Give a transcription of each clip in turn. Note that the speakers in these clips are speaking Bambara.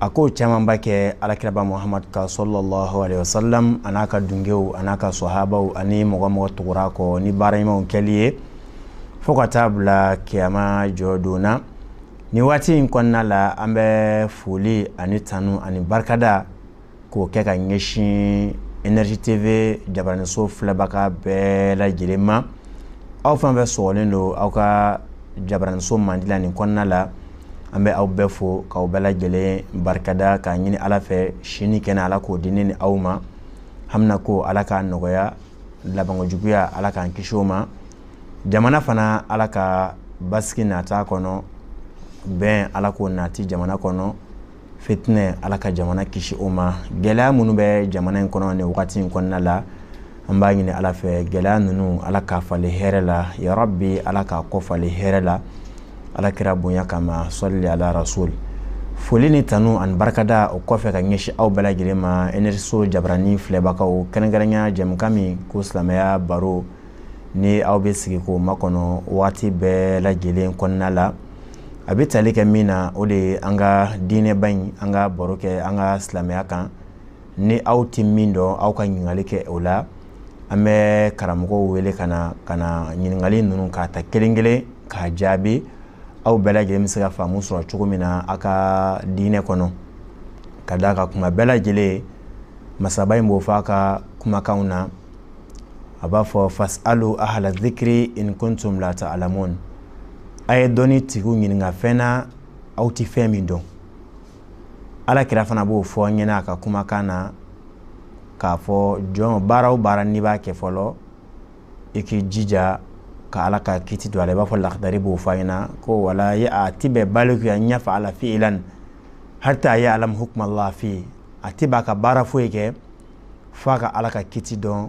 a k'o camanba kɛ ala kiraba muhamadu kan salalahu alayihi wa salamu a n'a ka dungew a n'a ka sahabaw ani mɔgɔ o mɔgɔ tugura u kɔ ni baara ɲumanw kɛli ye fo ka taa a bila kiyama jɔ don na nin waati in kɔnɔna la an bɛ foli ani tanu ani barikada k'o kɛ ka ɲɛsin energie tv jabaraniso filɛbaga bɛɛ lajɛlen ma aw fana bɛ sɔrɔlen don aw ka jabaraniso mandi nin kɔnɔna la an bɛ aw bɛɛ fo k'aw bɛɛ lajɛlen barikada k'a ɲini ala fɛ si ni kɛnɛya ala k'o di an ni aw ma an ko ala ka nɔgɔya labanko juguya ala k'an kisi o ma jamana fana ala ka basigi nati a kɔnɔ bɛn ala k'o nati jamana kɔnɔ fitinɛ ala ka jamana kisi o ma gɛlɛya minnu bɛ jamana in kɔnɔ nin wagati in kɔnɔna la an b'a ɲini ala fɛ gɛlɛya ninnu ala k'a falen hɛrɛ la ya rabi ala k'a kɔ falen hɛrɛ la ala kira bonya kama sali ala rasuli foli ni tanu ani barikada o kɔfɛ ka ɲɛsin aw bɛɛ lajɛlen ma energie so jabarani filɛbagaw kɛrɛnkɛrɛnya jɛmukan min ko silamɛya baro ni aw bɛ sigi k'o makɔnɔ waati bɛɛ lajɛlen kɔnɔna la a bɛ tali kɛ min na o de ye an ka diinɛba in an ka baro kɛ an ka silamɛya kan ni aw tɛ min dɔn aw ka ɲininkali kɛ o la an bɛ karamɔgɔw wele ka na ka na ɲininkali ninnu ka ta kelen kelen ka jaabi aw bɛɛ lajɛlen bɛ se ka faamu sɔrɔ cogo min na aw ka diinɛ kɔnɔ ka d'a kan kuma bɛɛ lajɛlen masaba in b'o fɔ a ka kumakanw na a b'a fɔ fasalu ahala zikiri in kuntum la talamuna a ye dɔnni tigiw ɲininka fɛn na aw tɛ fɛn min dɔn ala kira fana b'o fɔ an ɲɛna a ka kumakan na k'a fɔ jɔn baara o baara n'i b'a kɛ fɔlɔ i k'i jija ka ala ka kiti dɔn a i b'a fɔ lare b'o fɔ an ɲɛna ko wala a tɛ bɛn bali an yafala fiilan hata yaalama hukuma lahi fihi a tɛ bɛn a ka baara foyi kɛ fo a ka ala ka kiti dɔn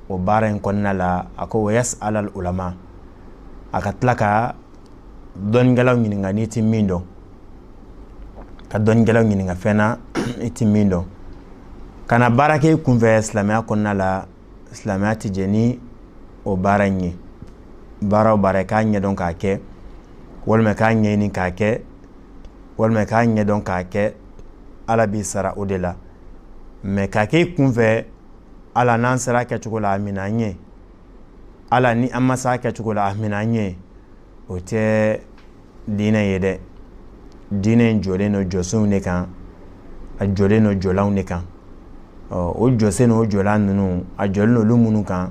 o baara in kɔnɔna la a ko wa yasala olama a ka tila ka dɔnkɛlaw ɲininka n'i tɛ min dɔn ka dɔnkɛlaw ɲininka fɛn na i tɛ min dɔn kana baara kɛ i kunfɛ silamɛya kɔnɔna la silamɛya tɛ jɛ ni o baara in ye baara o baara k'a ɲɛdɔn k'a kɛ walima k'a ɲɛɲini k'a kɛ walima k'a ɲɛ dɔn k'a kɛ ala b'i sara o de la mɛ k'a kɛ i kunfɛ ala n'an sera a kɛcogo la a mina an ɲɛ ala ni an ma se a kɛcogo la a mina an ɲɛ o tɛ diinɛ ye dɛ diinɛ in jɔlen don jɔsenw de kan a jɔlen don jɔlanw de kan ɔ o jɔsen o jɔlan ninnu a jɔlen don olu minnu kan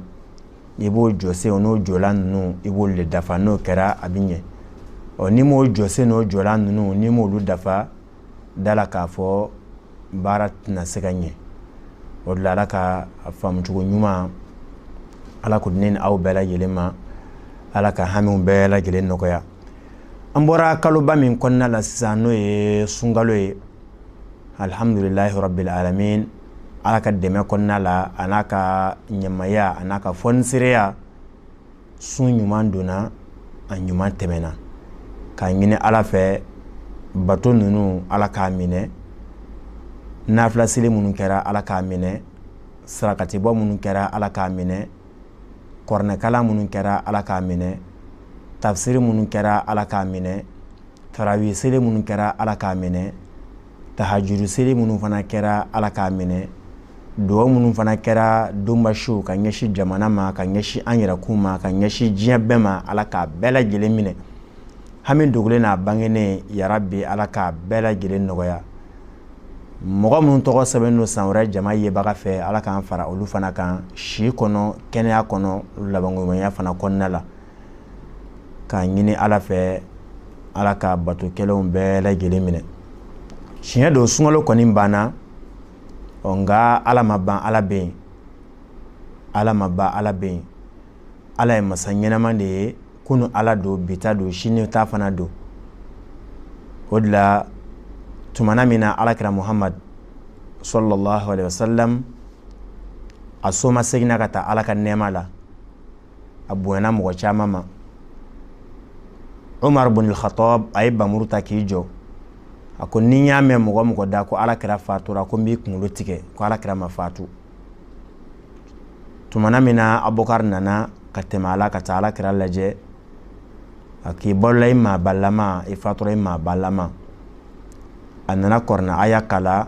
i b'o jɔsen n'o jɔlan ninnu i b'olu de dafa n'o kɛra a bɛ ɲɛ ɔ n'i m'o jɔsen n'o jɔlan ninnu n'i m'olu dafa da la k'a fɔ baara tɛna se ka ɲɛ o de la ala ka faamucogo ɲuman ala k'o di aw bɛɛ lajɛlen ma ala ka hamiw bɛɛ lajɛlen nɔgɔya an bɔra kaloba min kɔnɔna la sisan n'o ye sunkalo ye alihamdulilahi rabbil alamin ala ka dɛmɛ kɔnɔna la a n'a ka ɲumanya a n'a ka fɔnisireya sun ɲuman donna a ɲuman tɛmɛna k'a ɲini ala fɛ bato ninnu ala k'a minɛ nafila seli minnu kɛra ala k'a minɛ sarakatibɔ minnu kɛra ala k'a minɛ kuranɛ kalan minnu kɛra ala k'a minɛ tafisiri minnu kɛra ala k'a minɛ tarawi seli minnu kɛra ala k'a minɛ tahajudu seli minnu fana kɛra Ala k'a minɛ dugawu minnu fana kɛra donba su ka ɲɛsin jamana ma ka ɲɛsin an yɛrɛkun ma ka ɲɛsin diɲɛ bɛɛ ma Ala k'a bɛɛ lajɛlen minɛ hami dogolen n'a bangenen yarabi Ala k'a bɛɛ lajɛlen nɔgɔya mɔgɔ minnu tɔgɔ sɛbɛnnen don san wɛrɛ jama yebaga fɛ Ala k'an fara olu fana kan si kɔnɔ kɛnɛya kɔnɔ labankoɲumanya fana kɔnɔna la k'a ɲini ala fɛ ala ka bato kɛlenw bɛɛ lajɛlen minɛ tiɲɛ don sunkalo kɔni banna ɔ nka ala ma ban ala bɛ yen ala ma ban ala bɛ yen ala ye masa ɲɛnaman de ye kunun ala don bi ta don sini ta fana don o de la tumana min na alakira muhamadu sallallahu alayhi wasallam a somaseginna ka taa ala ka nɛɛma la a bonyana mɔgɔ caman ma Umaru bunul Khattab a ye bamuru ta k'i jɔ a ko ni n y'a mɛn mɔgɔ o mɔgɔ da ko alakira fatura ko n b'i kunkolo tigɛ ko alakira ma fatu tumana min na Abubakar nana ka tɛmɛ a la ka taa alakira lajɛ a k'i balola i maabalama i fatura i maabalama a nana kuranɛ aya kalan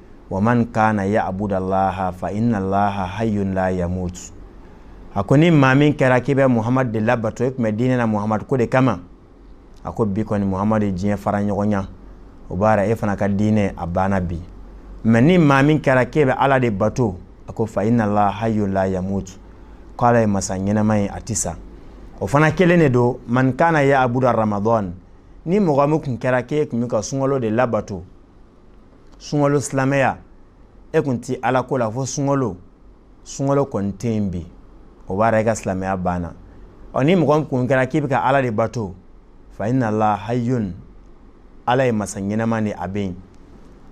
waman kana yaabudu allaha fa inna laha hayyun la yamut a ko ni maa min kɛra k'i bɛ muhamadu de labato i tun bɛ diinɛ na muhamadu ko de kama a ko bi kɔni muhamadu ye diɲɛ fara ɲɔgɔn na o b'a yira e fana ka diinɛ a banna bi mɛ ni maa min kɛra k'e bɛ ala de bato a ko fa inna laha hayyun la yamut ko ala ye masa ɲɛnama ye a tɛ sa o fana kelen de don man kana yaabudu ramadan ni mɔgɔ min tun kɛra k'e tun bɛ ka sunkalo de labato sunkalo silamɛya e tun tɛ ala ko la fo sunkalo sunkalo kɔni tɛ yen bi o b'a yira i ka silamɛya banna ɔ ni mɔgɔ kun kɛra k'i bɛ ka ala de bato fa inna laha hayyun ala ye masa ɲɛnama de ye a bɛ yen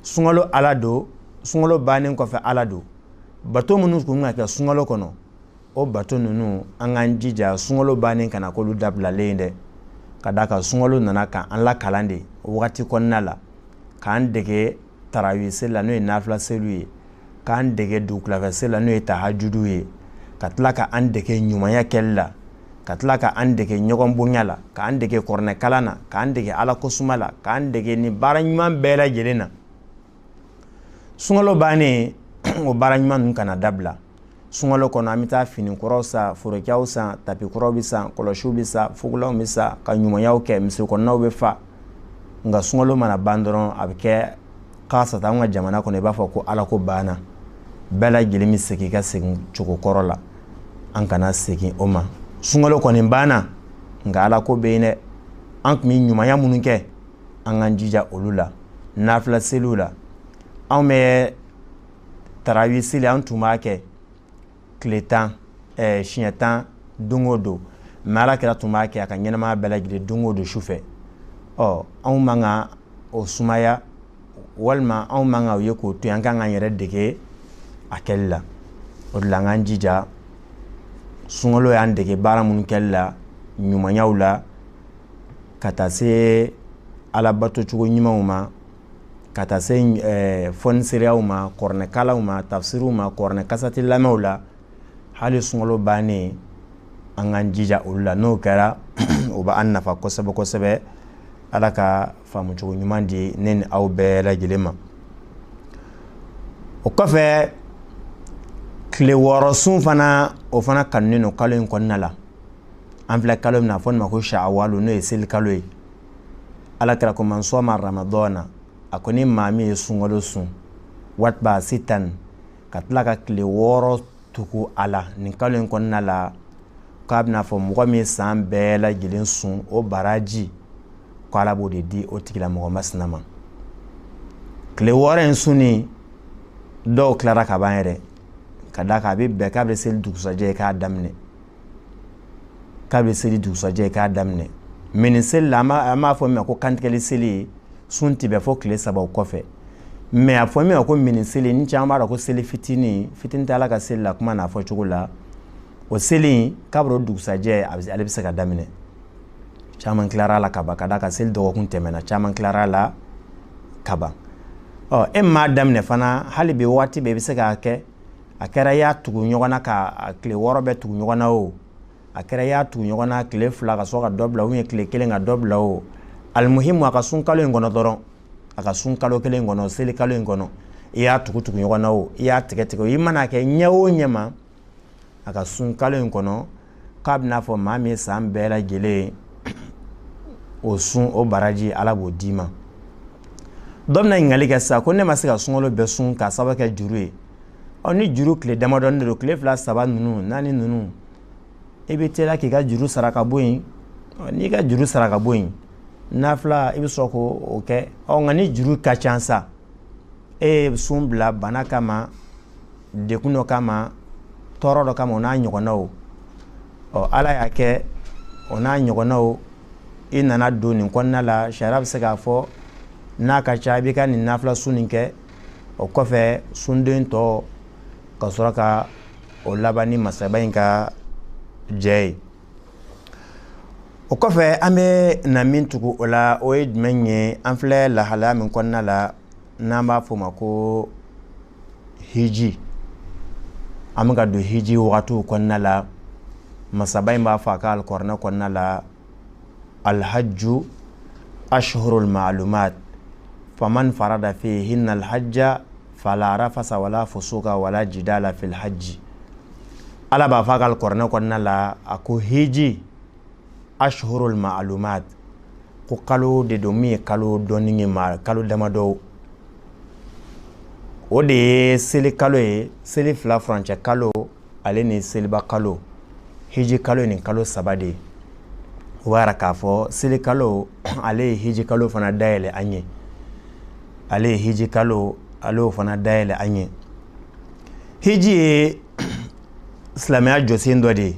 sunkalo ala don sunkalo bannen kɔfɛ ala don bato minnu tun bɛ ka kɛ sunkalo kɔnɔ o bato ninnu an k'an jija sunkalo bannen kana k'olu dabilalen ye dɛ ka d'a kan sunkalo nana ka an lakalan de waati kɔnɔna la k'an dege tarawi seli la n'o ye nafila seliw ye k'an dege dugutila fɛ seli la n'o ye tahajudu ye ka tila ka an dege ɲumanya kɛli la ka tila ka an dege ɲɔgɔn bonya la k'an dege kuranɛkalan na k'an dege ala kosuma la k'an dege nin baara ɲuman bɛɛ lajɛlen na sunkalo bannen o baara ɲuman ninnu kana dabila sunkalo kɔnɔ an bɛ taa fini kuraw san forokiyaw san tapi kuraw bɛ san kɔlɔsiw bɛ san fugulanw bɛ san ka ɲumanyaw kɛ misiri kɔnɔnaw bɛ fa nka sunkalo mana ban dɔrɔn a bɛ kɛ kasatan an ka jamana kɔnɔ i b'a fɔ ko ala ko banna bɛɛ lajɛlen bɛ segin ka segin cogo kɔrɔ la an kana segin o ma sunkalo kɔni banna nka ala ko bɛ yen dɛ an tun bɛ ɲumanya minnu kɛ an k'an jija olu la nafila seliw la anw bɛ tarawi seli an tun b'a kɛ tile tan eh, siɲɛ tan don o don mɛ ala kira tun b'a kɛ a ka ɲɛnamaya bɛɛ lajɛlen don o don su fɛ ɔ anw man ka o sumaya walima anw man ka o ye k'o to yen an kan k'an yɛrɛ dege a kɛli la o de la an k'an jija sunkalo y'an dege baara minnu kɛli la ɲumanyaw la ka taa se alabatocogo ɲumanw ma ka taa se eh, fonisireyaw ma kuranɛkalanw ma tafsiriw ma kuranɛ kasɛti lamɛnw la hali sunkalo bannen an k'an jija olu la n'o kɛra o bɛ an nafa kosɛbɛ kosɛbɛ ala ka faamucogo ɲuman di ne ni aw bɛɛ lajɛlen ma o kɔfɛ tile wɔɔrɔ sun fana o fana kanunen don kalo in kɔnɔna la an filɛ kalo min na fɔ nin ma ko shawalo n'o ye seli kalo ye ala kira ko man sɔma ramadana a ko ni maa min ye sunkalo sun watba sitan ka tila ka tile wɔɔrɔ tugu a la nin kalo in kɔnɔna la k'a b'i n'a fɔ mɔgɔ min san bɛɛ lajɛlen sun o baraji ko ala b'o de di o tigilamɔgɔ masina ma tile wɔɔrɔ in sunni dɔw tilara ka ban yɛrɛ ka d'a kan a bɛ bɛn kabi seli dugusajɛ ye k'a daminɛ kabi seli dugusajɛ k'a daminɛ mɛ ni seli la an b'a fɔ min ko kantigɛli seli ye sun tɛ bɛn fɔ tile saba kɔfɛ mɛ a fɔ min ko mini seli ni caman b'a la ko seli fitinin fitinin t' ala ka seli la kuma n'a fɔcogo la o seli kabi dugusajɛ ale bɛ se k'a daminɛ caman tilara la ka ka d'a kan seli dɔgɔkun tɛmɛna caman tilara la kaban ɔ e m'a daminɛ fana hali bi waati bɛ i bɛ se k'a kɛ a kɛra i y'a tugu ɲɔgɔn na ka tile wɔɔrɔ bɛɛ tugu ɲɔgɔn na o a kɛra i y'a tugu ɲɔgɔn na tile fila ka sɔrɔ ka dɔ bila u ye tile kelen ka dɔ bila o alimuhimu a ka sun kalo in kɔnɔ dɔrɔn a ka sun kalo kelen in kɔnɔ seli kalo in kɔnɔ i y'a tugu tugu ɲɔgɔn na o i y'a tigɛ tigɛ i man'a kɛ ɲɛ o ɲɛ ma a ka sun kalo in kɔnɔ k'a bɛ n'a fɔ maa min ye san bɛɛ lajɛlen o sun o baraji ala b'o d'i ma dɔ bɛna ɲininkali kɛ sa ko ne ma se ka sunkalo bɛɛ sun ka saba kɛ juru ye ɔ ni juru tile damadɔ de don tile fila saba ninnu naani ninnu i bɛ teliya k'i ka juru sara ka bɔ yen n'i ka juru sara ka bɔ yen nafila i bɛ sɔrɔ k'o kɛ ɔ nka ni juru ka ca sa e ye sun bila bana kama dekun dɔ kama tɔɔrɔ dɔ kama o n'a ɲɔgɔnnaw ɔ ala y'a kɛ o n'a ɲɔgɔnnaw i nana don nin kɔnɔna la sariya bɛ se k'a fɔ n'a ka ca i bɛ ka nin nafila sun nin kɛ o kɔfɛ sundon tɔ ka sɔrɔ ka o laban ni masaba in ka jɛn ye o kɔfɛ an bɛ na min tugu o la o ye jumɛn ye an filɛ lahalaya min kɔnɔna la n'an b'a f'o ma ko hiji an bɛ ka don hiji waatiw kɔnɔna la masaba in b'a fɔ a ka alikuranɛ kɔnɔna la alhajju ashhurul ma'lumat faman farada fihinna alhajja fala rafasa wala fusuka wala jidala fil hajji ala b'a fɔ a ka alikuranɛ kɔnɔna la a ko hiji ashhurul ma'lumat ko kalo de don min ye kalo dɔnnen ye ma kalo damadɔ o de ye seli kalo ye seli fila furancɛ kalo ale ni seliba kalo hiji kalo ye nin kalo saba de ye o b'a jira k'a fɔ seli kalo ale ye hiji kalo fana dayɛlɛlan ye ale ye hiji kalo ale y'o fana dayɛlɛlan ye hiji ye silamɛya jɔsen dɔ de ye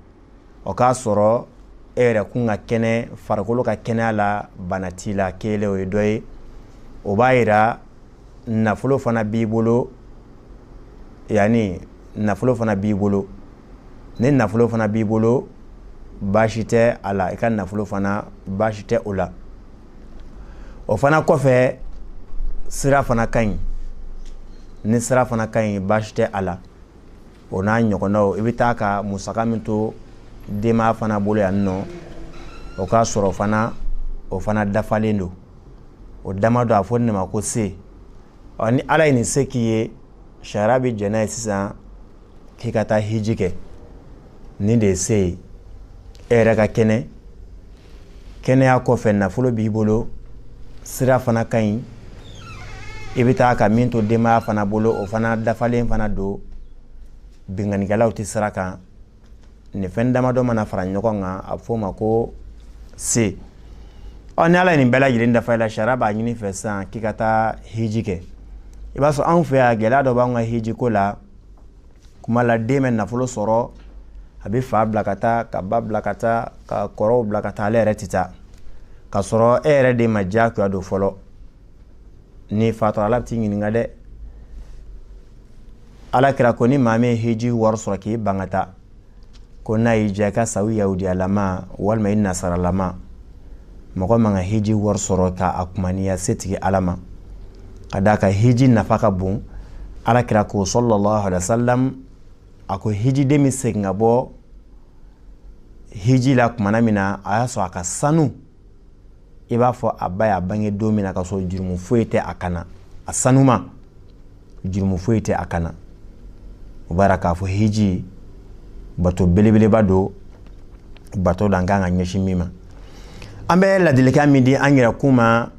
o k'a sɔrɔ e yɛrɛkun ka kɛnɛ farikolo ka kɛnɛya la bana t'i la kelen o ye dɔ ye o b'a jira nafolo fana b'i bolo yaani nafolo fana b'i bolo ni nafolo fana b'i bolo baasi tɛ a la i ka nafolo fana baasi tɛ o la o fana kɔfɛ sira fana ka ɲi ni sira fana ka ɲi baasi tɛ a la o n'a ɲɔgɔndaw i bɛ taa ka musaka min to denbaya fana bolo yan i nɔ o k'a sɔrɔ fana o fana dafalen don o dama don a fɔ ne ma ko se ɔ ni ala ye nin se k'i ye sariya bɛ jɛn n'a ye sisan k'i ka taa hiji kɛ nin de ye se ye e yɛrɛ ka kɛnɛ kɛnɛya kɔfɛ nafolo b'i bolo sira fana ka ɲi i bɛ taa ka min to denbaya fana bolo o fana dafalen fana don binkanikɛlaw tɛ sira kan nin fɛn damadɔ mana fara ɲɔgɔn kan a bɛ f'o ma ko se ɔ ni ala ye nin bɛɛ lajɛlen dafa i la sariya b'a ɲini i fɛ sisan k'i ka taa hiji kɛ i b'a sɔrɔ anw fɛ yan gɛlɛya dɔ b'an ka hiji ko la kuma la den bɛ nafolo sɔrɔ a bɛ fa bila ka taa ka ba bila ka taa ka kɔrɔw bila ka taa ale yɛrɛ tɛ taa ka sɔrɔ e yɛrɛ de ma diyagoya don fɔlɔ n'i fatura ala bɛ t'i ɲininka dɛ ala kira ko ni maa min ye hiji wari sɔrɔ k'i ban ka taa ko n'a y'i diya i ka sa u yahudiyalama walima i nasaralama mɔgɔ man ka hiji wari sɔrɔ ka a kumaniya setigi ala ma ka d'a kan hiji nafa ka bon ala kira ko salalahu alaihi wasallam a ko hijiden bɛ segin ka bɔ hiji la tumana min na a y'a sɔrɔ a ka sanu i b'a fɔ a ba y'a bange don min na ka sɔrɔ jurumu foyi tɛ a kan na a sanuman jurumu foyi tɛ a kan na o b'a k'a fɔ hiji bato belebeleba don bato don an kan ka ɲɛsin min ma an bɛ ladilikan min di an yɛrɛ kun ma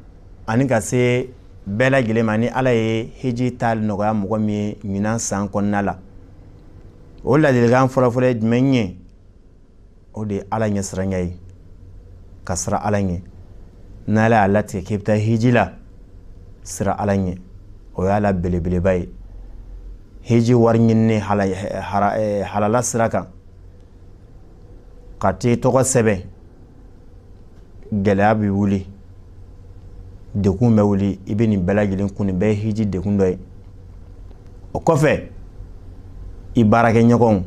ani ka se bɛɛ lajɛlen ma ni ala ye hiji taa nɔgɔya mɔgɔ min ye ɲinan san kɔnɔna la o ladilikan fɔlɔfɔlɔ ye jumɛn ye o de ye ala ɲɛsiranya ye ka siran ala ɲɛ ni ala y'a latigɛ k'i bɛ taa hiji la siran ala ɲɛ o y'a la belebeleba ye hiji wari ɲini halala sira kan ka t'i tɔgɔ sɛbɛn gɛlɛya bɛ wuli dekun bɛ wuli i bɛ nin bɛɛ lajɛlen kun nin bɛɛ ye hiji dekun dɔ ye o kɔfɛ i baarakɛɲɔgɔn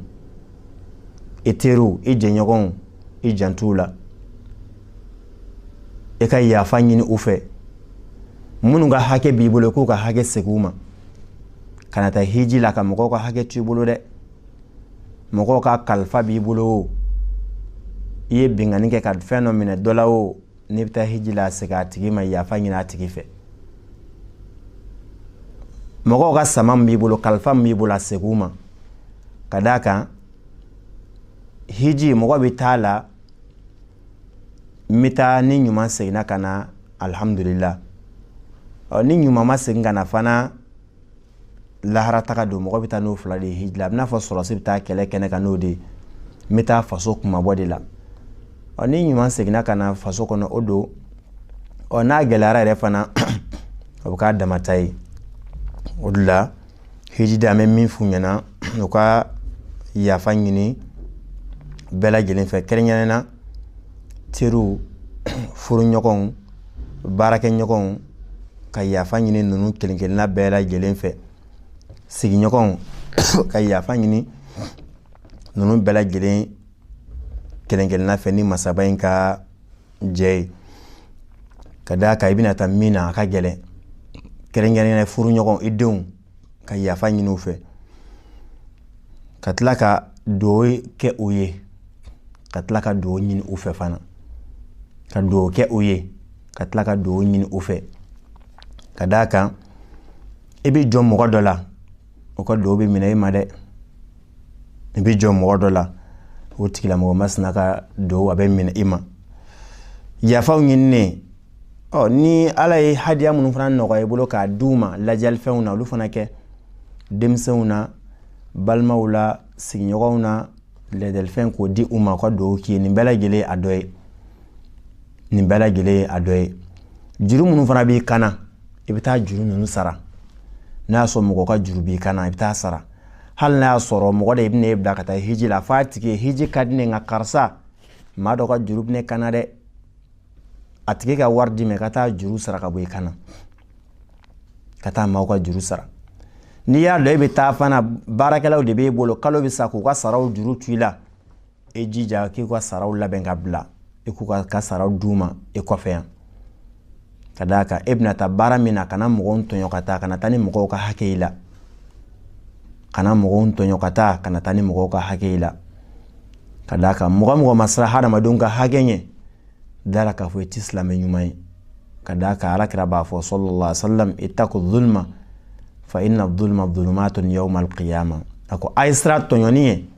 i teriw i jɛɲɔgɔnw i janto u la i ka yafa ɲini u fɛ minnu ka hakɛ b'i bolo k'u ka hakɛ segin u ma kana taa hiji la ka mɔgɔw ka hakɛ to i bolo dɛ mɔgɔw ka kalifa b'i bolo o i ye binkanni kɛ ka fɛn dɔ minɛ dɔ la o n'i bɛ taa hiji la segin a tigi ma yafa ɲini a tigi fɛ mɔgɔw ka sama min b'i bolo kalifa min b'i bolo a segin u ma ka d'a kan hiji mɔgɔ bɛ taa la n bɛ taa ni ɲuman seginna ka na alihamudulila ni ɲuman ma segin ka na fana lahara taga don mɔgɔ bɛ taa n'o fila de ye hiji la a bɛ i n'a fɔ sɔrɔdasi bɛ taa kɛlɛ kɛnɛ kan n'o de ye n bɛ taa faso kunmabɔ de la ɔ ni ɲuman seginna ka na faso kɔnɔ o don ɔ n'a gɛlɛyara yɛrɛ fana o bɛ k'a damata ye o de la hiji da an bɛ min f'u ɲɛna u ka yafa ɲini bɛɛ lajɛlen fɛ kɛrɛnkɛrɛnnenya teriw furuɲɔgɔnw baarakɛɲɔgɔnw ka yafa ɲini ninnu kelen kelenna bɛɛ lajɛlen fɛ sigiɲɔgɔnw ka yafa ɲini ninnu bɛɛ lajɛlen kelen kelenna fɛ ni masaba in ka jɛ ye ka d'a kan i bɛna taa min na a ka gɛlɛn kɛrɛnkɛrɛnnenya furuɲɔgɔn i denw ka yafa ɲini u fɛ ka tila ka dugawu kɛ u ye ka tila ka dugawu ɲini u fɛ fana ka dugawu kɛ u ye ka tila ka dugawu ɲini u fɛ ka d'a kan i bɛ jɔn mɔgɔ dɔ la o ka dugawu bɛ minɛ i ma dɛ i bɛ jɔn mɔgɔ dɔ la o tigilamɔgɔ masina ka dugawu bɛ minɛ i ma yafaw ɲininen kɔ ni ala ye hadiya minnu fana nɔgɔya i bolo k'a di u ma ladiyalifɛnw na olu fana kɛ denmisɛnw na balimaw la sigiɲɔgɔnw na ladiyalifɛn k'o di u ma ka dugawu k'i ye nin bɛɛ lajɛlen a dɔ ye nin bɛɛ lajɛlen a dɔ ye juru minnu fana b'i kan na i bɛ taa juru ninnu sara n'a y'a sɔrɔ mɔgɔ ka juru b'i kan na i bɛ taa sara hali n'a y'a sɔrɔ mɔgɔ de bɛna e bila ka taa hiji la f'a tigi ye hiji ka di ne nka karisa maa dɔ ka juru bɛ ne kan na dɛ a tigi ka wari d'i ma i ka taa juru sara ka bɔ i kan na ka taa maaw ka juru sara n'i y'a dɔn e bɛ taa fana baarakɛlaw de b'e bolo kalo bɛ sa k'u ka saraw juru to i la i jija k'u ka saraw labɛn ka bila e k'u ka saraw d'u ma e kɔfɛ yan ka d'a kan e bɛna taa baara min na kana mɔgɔw tɔɲɔ ka taa kana taa ni mɔgɔw ka hakɛ i la kana mɔgɔw tɔɲɔ ka taa kana taa ni mɔgɔw ka hakɛ i la ka d'a kan mɔgɔ o mɔgɔ ma siran hadamadenw ka hakɛ ɲɛ d'a la k'a fɔ i tɛ silamɛ ɲuman ye ka d'a kan ala kira b'a fɔ sɔlɔla salam itaku zuluma fa ina zuluma zulumatun yawma alqiyama a ko a ye siran tɔɲɔni ɲɛ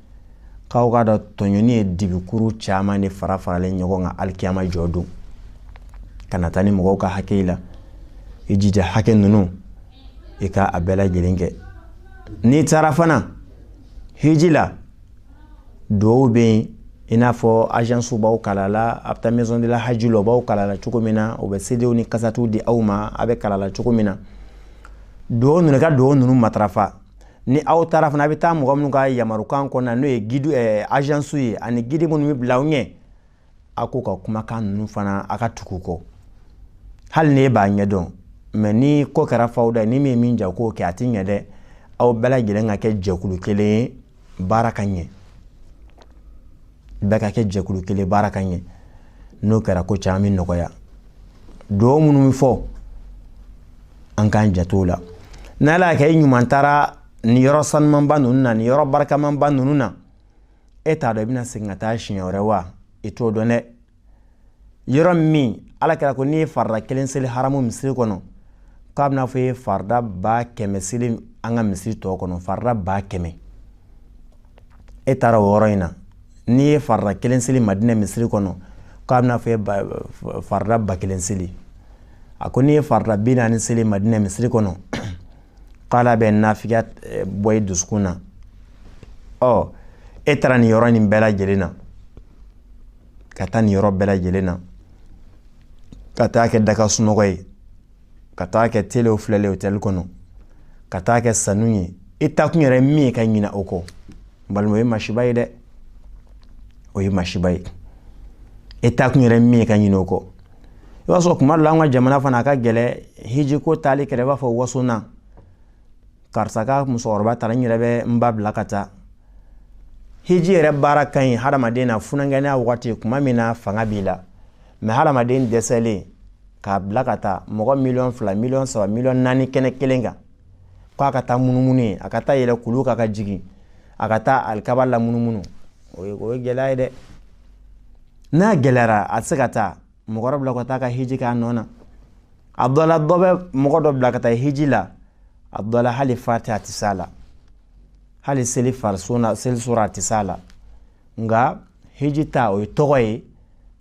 k'aw k'a dɔn tɔɲɔni ye dibikuru caman de fara faralen ɲɔgɔn kan alikiyama jɔ don kana taa ni mɔgɔw ka hakɛ la i jija hakɛ ninnu i ka a bɛɛ lajɛlen kɛ n'i taara fana hiji la duwawu bɛ yen i n'a fɔ agence b'aw kalan na a bɛ taa maison de la haji la o b'aw kalan na cogo min na o bɛ sedew ni kasɛtiw di aw ma a bɛ kalan na cogo min na duwawu ninnu ka duwawu ninnu matarafa ni aw taara fana a bɛ taa mɔgɔ minnu ka yamarukan kɔnɔna n'o ye gidi ɛɛ agence ye ani gidi minnu bɛ bila aw ɲɛ a k'u ka kumakan ninnu fana a ka tugu kɔ hali n'e b'a ɲɛdɔn mɛ ni ko kɛra fawda ni min ye min diya k'o kɛ a ti ɲɛ dɛ aw bɛɛ lajɛlen ka kɛ jɛkulu kelen ye baara ka ɲɛ bɛɛ ka kɛ jɛkulu kelen baara ka ɲɛ n'o kɛra ko caman bɛ nɔgɔya dugawu minnu bɛ fɔ an k'an janto o la n'ala y'a kɛ i ɲuman taara nin yɔrɔ sanumanba ninnu na nin yɔrɔ barikamanba ninnu na e t'a dɔn i bɛna segin ka taa siɲɛ wɛrɛ wa i t'o dɔn dɛ yɔrɔ min ala kira ko n'i ye farida kelen seli haramu misiri kɔnɔ k'a b'i n'a fɔ i ye farida ba kɛmɛ seli an ka misiri tɔw kɔnɔ farida ba kɛmɛ e taara o yɔrɔ in na n'i ye farida kelen seli madinɛ misiri kɔnɔ k'a b'i n'a fɔ i ye farida ba kelen seli a ko n'i ye farida bi naani seli madinɛ misiri kɔnɔ k'ala bɛ nafigiya eh, bɔ i dusukun na ɔ e taara nin yɔrɔ nin bɛɛ lajɛlen na ka taa nin yɔrɔ bɛɛ lajɛlen na ka taa kɛ daga sunɔgɔ ye ka taa kɛ telew filɛli otɛli kɔnɔ ka taa kɛ sanu ye i taakun yɛrɛ min ye ka ɲina o kɔ balima o ye masiba ye dɛ o ye masiba ye i taakun yɛrɛ min ye ka ɲina o kɔ i b'a sɔrɔ kuma dɔ la an ka jamana fana a ka gɛlɛn hiji ko taali kɛra i b'a fɔ waso na karisa ka musokɔrɔba taara n yɛrɛ bɛ n ba bila ka taa hiji yɛrɛ baara ka ɲi hadamaden na funankɛninya wagati kuma min na fanga b'i la mɛ hadamaden dɛsɛlen k'a bila ka taa mɔgɔ miliyɔn fila miliyɔn saba miliyɔn naani kɛnɛ kelen kan ko a ka taa munumunu yen a ka taa yɛlɛ kulu kan ka jigin a ka taa alikaba lamunumunu o ye o ye gɛlɛya ye dɛ n'a gɛlɛyara a tɛ se ka taa mɔgɔ dɔ bila ka taa ka hiji k'a nɔ na a dɔ la dɔ bɛ mɔgɔ dɔ bila ka taa hiji la a dɔ la hali fatiya a tɛ s'a la hali seli fariso na seli sura a tɛ s'a la nka hiji ta o ye tɔgɔ ye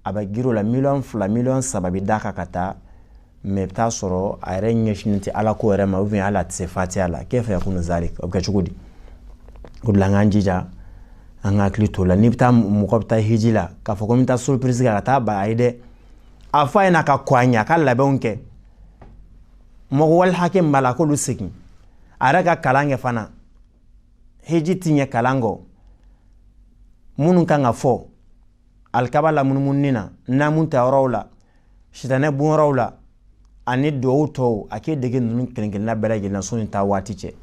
a bɛ girin o la miliyɔn fila miliyɔn saba bɛ d'a kan ka taa mɛ bɛ taa sɔrɔ a yɛrɛ ɲɛsin tɛ ala ko yɛrɛ ma u bɛ ala tɛ se fatiya la k'e fɛ kun zari o kɛ cogo di o la an jija an ka hakili to la n'i bɛ taa mɔgɔ bɛ taa hiji la k'a fɔ ko n bɛ taa so peresi ka taa ba a ye dɛ a fɔ a y'a ka ko ɲɛ a ka labɛnw kɛ mɔgɔ wali hakɛ b'a la k'olu segin a yɛrɛ ka kalan kɛ fana hiji tɛ ɲɛ kalan kɔ minnu kan ka fɔ alikaba lamunumunni na naamu ta yɔrɔw la sitanɛ bonyɔrɔw la ani duwawu tɔw a k'i dege ninnu kelenkelenna bɛɛ lajɛlen sani taa waati cɛ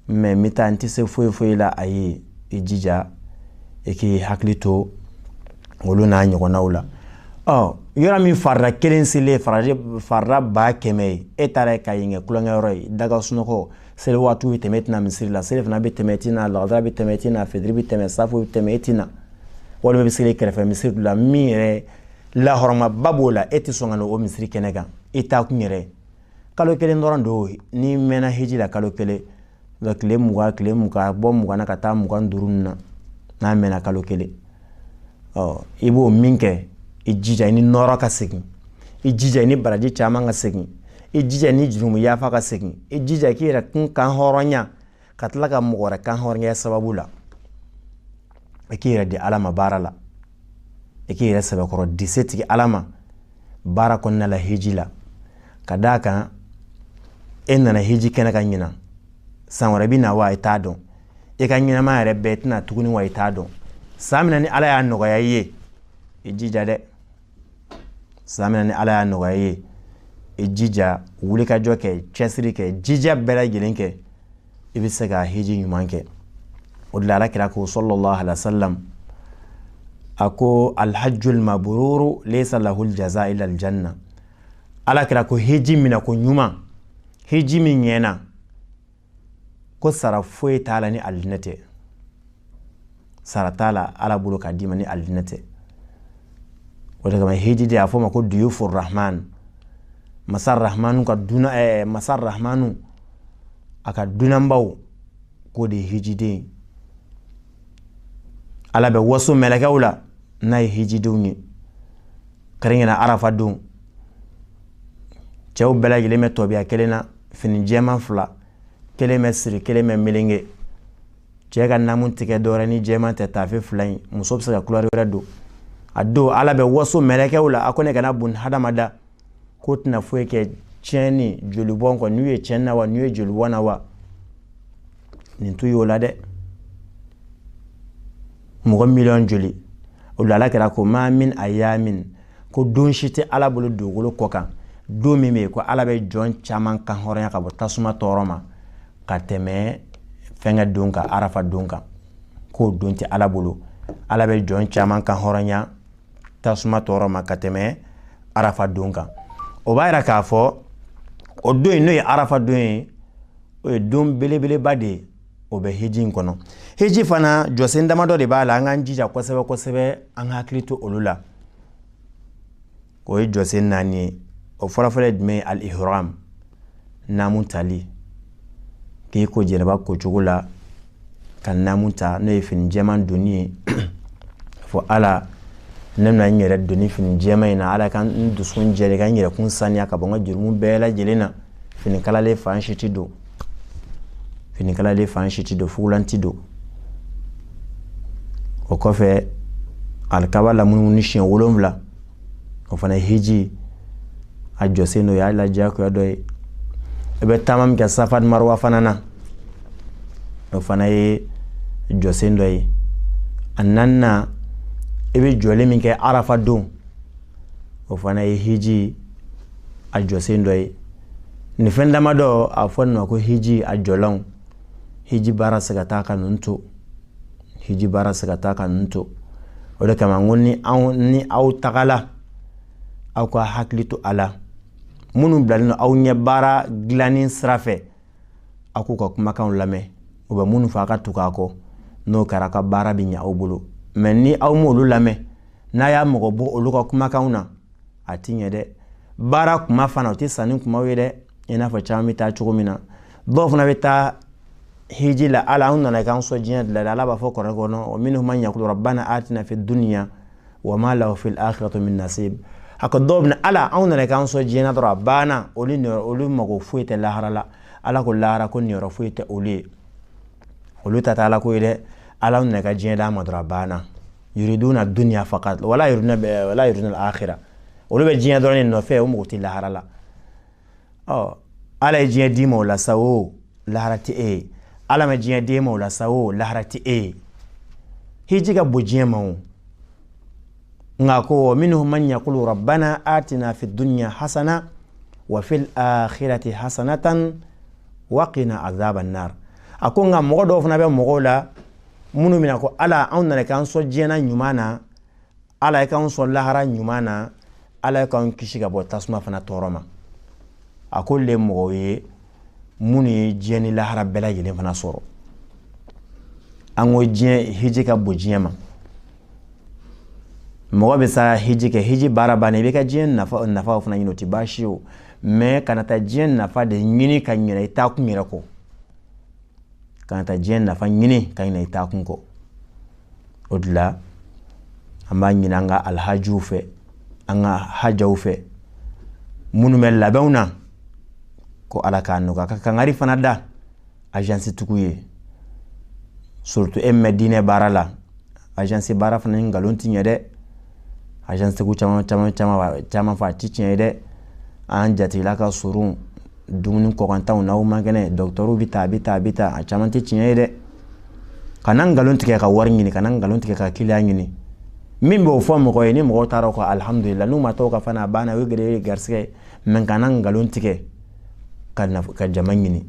mɛ n bɛ taa n tɛ se foyi foyi la a ye i jija i k'i hakili to olu n'a ɲɔgɔnnaw la ɔ yɔrɔ min farida kelen seli farida ba kɛmɛ ye e taara yen ka yen kɛ tulonkɛyɔrɔ ye daga sunɔgɔ seli waati bɛ tɛmɛ i tɛ na misiri la selifana bɛ tɛmɛ i tɛ na lagansara bɛ tɛmɛ i tɛ na fitiri bɛ tɛmɛ saafo bɛ tɛmɛ i tɛ na walima bɛ seli kɛrɛfɛ misiri la min yɛrɛ lahɔrɔmaba b'o la e tɛ sɔn ka na o misiri kɛnɛ kan i taa kun yɛrɛ kalo kelen dɔrɔn don n'i mɛnna heji la kalo kelen nka tile mugan tile mugan bɔ mugan na ka taa mugan duuru na n'a mɛnna kalo kelen ɔ i b'o min kɛ i jija i ni nɔɔrɔ ka segin i jija i ni baraji caman ka segin i jija i ni jurumu yafa ka segin i jija i k'i yɛrɛ kun kan hɔrɔnya ka tila ka mɔgɔ wɛrɛ kan hɔrɔnya sababu la i k'i yɛrɛ di ala ma baara la i k'i yɛrɛ sɛbɛkɔrɔ di setigi ala ma baara kɔnɔna la heji la ka d'a kan e nana heji kɛnɛ kan ɲinan san wɛrɛ bɛ na wa i t'a dɔn e ka ɲɛnama yɛrɛ bɛɛ tɛna tuguni wa i t'a dɔn san min na ni ala y'a nɔgɔya i ye i jija dɛ san min na ni ala y'a nɔgɔya i ye i jija wulikajɔ kɛ cɛsiri kɛ jija bɛɛ lajɛlen kɛ i bɛ se ka hiji ɲuman kɛ o de la ala kira ko sallallahu alayhi wa sallam a ko alhajjul mabruru laysa lahul jaza illa aljanna ala kira ko hiji mina ko ɲuman hiji min ɲɛna ko sara foyi t'a la ni alijinɛ tɛ sara t'a la ala bolo k'a d'i ma ni alijinɛ tɛ o de kama hijiden y'a fɔ ma ko duyufu rahman masa rahmanu ka duna ɛɛ eh, masa rahmanu a ka dunanbaw k'o de ye hijiden ala bɛ waso mɛlɛkɛw la n'a ye hijidenw ye kɛrɛnkɛrɛn arafa don cɛw bɛɛ lajɛlen bɛ tabiya kelen na fini jɛman fila kelen bɛ siri kelen bɛ melenge cɛ ka naamu tɛ kɛ dɔwɛrɛ ni jɛman tɛ taafe fila in muso bɛ se ka kulɛri wɛrɛ don a don ala bɛ waso mɛlɛkɛw la a ko ne kana bun hadama da k'u tɛna foyi kɛ tiɲɛni jolibɔn kɔ ninw ye tiɲɛni na wa ninw ye jolibɔn na wa nin tun y'o la dɛ mɔgɔ miliyɔn joli o la ala kira ko maa min ayyamin ko don si tɛ ala bolo dugukolo kɔ kan don min bɛ yen ko ala bɛ jɔn caman kan hɔrɔnya ka bɔ tasuma tɔɔrɔ ma ka tɛmɛ fɛnkɛ don kan arafa don kan k'o don tɛ ala bolo ala bɛ jɔn caman kan hɔrɔnya tasuma tɔɔrɔ ma ka tɛmɛ arafa don kan o b'a yira k'a fɔ o don in n'o ye arafa don ye o ye don belebeleba de ye o bɛ heji in kɔnɔ heji fana jɔsen damadɔ de b'a la an k'an jija kosɛbɛ kosɛbɛ an ka hakili to olu la o ye jɔsen naani ye o fɔlɔfɔlɔ ye jumɛn ye al ihram naamu tali k'i ko jɛnɛba kocogo la ka naamu ta n'o ye fini jɛman donni ye fɔ ala ne bɛna n yɛrɛ don nin fini jɛman in na ala ka n dusukun jɛlen ka n yɛrɛkun saniya ka bɔ n ka jurumu bɛɛ lajɛlen na fini kalalen fan si ti don fini kalalen fan si ti don fugulan ti don o kɔfɛ alikaba lamunumunu siɲɛ wolonwula o fana hiji a jɔsen dɔ ye hali diyagoya dɔ ye i bɛ taama min kɛ safa ni marowa fana na o fana ye jɔsen dɔ ye a naaninan i bɛ jɔli min kɛ arafa don o fana ye hiji a jɔsen dɔ ye nin fɛn damadɔ a fɔ nin ma ko hiji a jɔlanw hiji baara se ka taa ka ninnu to hiji baara se ka taa ka nin to o de kama ko ni anw ni aw tagala aw ka hakili to a la minnu bilalen don aw ɲɛ baara dilanni sira fɛ aw k'u ka kumakanw lamɛn u bɛ minnu fɔ aw ka tugu u kɔ n'o kɛra ka baara bɛ ɲɛ aw bolo mɛ ni aw m'olu lamɛn n'a y'a mago bɔ olu ka kumakanw na a ti ɲɛ dɛ baara kuma fana o tɛ sanni kumaw ye dɛ i n'a fɔ caman bɛ taa cogo min na dɔw fana bɛ taa hiji la ala an nana k'an sɔn diɲɛ de la ala b'a fɔ kuranɛ kɔnɔ wa minhum man yakulu rabbana atina fi dunya wa ma lahu fil akhirati min nasib a ko dɔw bɛ ala anw nana k'an sɔn diɲɛ dɔrɔn a banna olu olu mago foyi tɛ lahara la ala ko lahara ko niyɔrɔ foyi tɛ olu ye olu ta tɛ ala ko ye dɛ ala nana ka diɲɛ d'an ma dɔrɔn a banna yuriduna dunya fakat wala yuriduna wala yuriduna akhira olu bɛ diɲɛ dɔrɔn nɔfɛ u mago tɛ lahara la ɔ ala ye diɲɛ d'i ma o la sa o lahara tɛ e ye ala ma diɲɛ d'e ma o la sa o lahara tɛ e ye hiji ka bon diɲɛ ma a ko wa minhum man yakulu rabbana atina fi dunya hasana wa fil akhirati hasanatan wa qina azaban nar a ko nka mɔgɔ dɔw fana bɛ mɔgɔw la minnu bɛna ko ala anw nana k'an sɔn diɲɛ ɲuman na ala i k'an sɔn lahara ɲuman na ala i k'an kisi ka bɔ tasuma fana tɔɔrɔ ma a ko olu le mɔgɔw ye minnu ye diɲɛ ni lahara bɛɛ lajɛlen fana sɔrɔ an ko diɲɛ hiji ka bon diɲɛ ma mɔgɔ bɛ se ka hiji kɛ hiji baara bannen i bɛ se ka diɲɛ nafa nafaw fana ɲini o tɛ baasi ye o mɛ kana taa diɲɛ nafa de ɲini ka ɲinɛ i taa kun yɛrɛ kɔ kana taa diɲɛ nafa ɲini ka ɲinɛ i taa kun kɔ o de la an b'a ɲinin an ka alhajiw fɛ an ka hajaw fɛ minnu bɛ labɛnw na ko ala k'a nɔgɔya ka kangari fana da agence tigiw ye surtout an bɛ diinɛ baara la agence baara fana ni nkalon ti ɲɛ dɛ agence tigiw caman caman caman caman fɔta ti tiɲɛ ye dɛ an jatigila ka surun dumuni kɔkantanw n'aw man kɛnɛ dɔgɔtɔrɔw bɛ taa a bɛ taa a bɛ taa a caman tɛ tiɲɛ ye dɛ kana nkalon tigɛ ka wari ɲini kana nkalon tigɛ ka kiliyan ɲini min b'o fɔ mɔgɔ ye ni mɔgɔ taara ka alihamudulila n'u ma tɔgɔ ka fana a banna o gɛrɛ ye garisɛgɛ mɛ kana nkalon tigɛ ka ka jama ɲini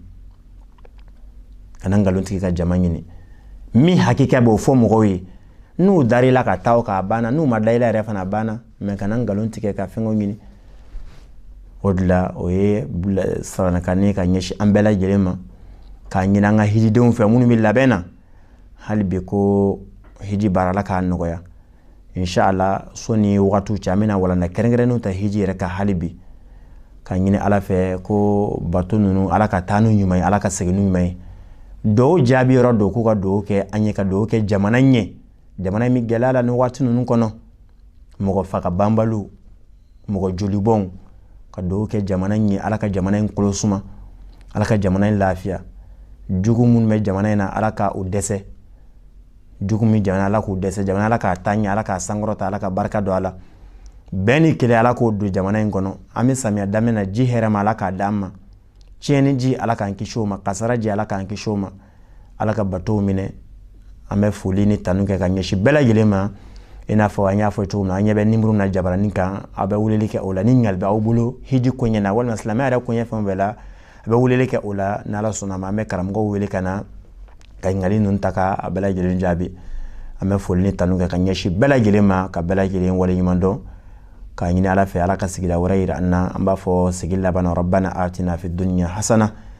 kana nkalon tigɛ ka jama ɲini min hakika b'o fɔ mɔgɔw ye n'u dara i la ka taa ka banna n'u ma da i la yɛrɛ fana banna mɛ kana nkalon tigɛ ka fɛnw ɲini o de la o ye saranakan ka ɲɛsin an bɛɛ lajɛlen ma ka ɲini an ka hijidenw fɛ minnu bɛ labɛn na hali bi ko hiji baara ala k'a nɔgɔya n'ala sɔn ni waati se an bɛna walanda kɛrɛnkɛrɛnnenw ta hiji yɛrɛ kan hali bi ka ɲini ala fɛ ko bato ninnu ala ka taa n'u ɲuman ye ala ka segin n'u ɲuman ye duwawu jaabi yɔrɔ don k'u ka duwawu kɛ an ɲɛ ka duwawu kɛ jamana ɲɛ jamana in bɛ gɛlɛya la ni waati ninnu kɔnɔ mɔgɔ faga banbali mɔgɔ jolibɔn ka duwawu kɛ jamana in ye ala ka jamana in kɔnɔ suma ala ka jamana in lafiya jugu minnu bɛ jamana in na ala ka u dɛsɛ jugu min jamana ala k'u dɛsɛ jamana ala k'a taa ɲɛ ala k'a sankɔrɔta ala ka barika don a la bɛn ni kelenya ala k'o don jamana in kɔnɔ an bɛ samiya daminɛ na ji hɛrɛma ala k'a di an ma tiɲɛni ji ala k'an kisi o ma kasaara ji ala k'an kisi o ma ala ka batow minɛ an bɛ foli ni tanu kɛ ka ɲɛsin bɛɛ lajɛlen ma i n'a fɔ an y'a fɔ cogo min an ɲɛ bɛ nimɔrɔ na jabaranin kan a bɛ weleli kɛ o la ni ɲininkali b'aw bolo hiji koɲɛ na walima silamɛya yɛrɛ koɲɛ fɛn bɛɛ la a bɛ weleli kɛ o la ni ala sɔnna a ma an bɛ karamɔgɔw wele ka na ka ɲininkali ninnu ta ka a bɛɛ lajɛlen jaabi an bɛ foli ni tanu kɛ ka ɲɛsin bɛɛ lajɛlen ma ka bɛɛ lajɛlen waleɲuman dɔn k'a ɲini ala fɛ ala ka sigida wɛrɛ yira an na an b'a fɔ sigi laban na rabbana atina fi dunya hasana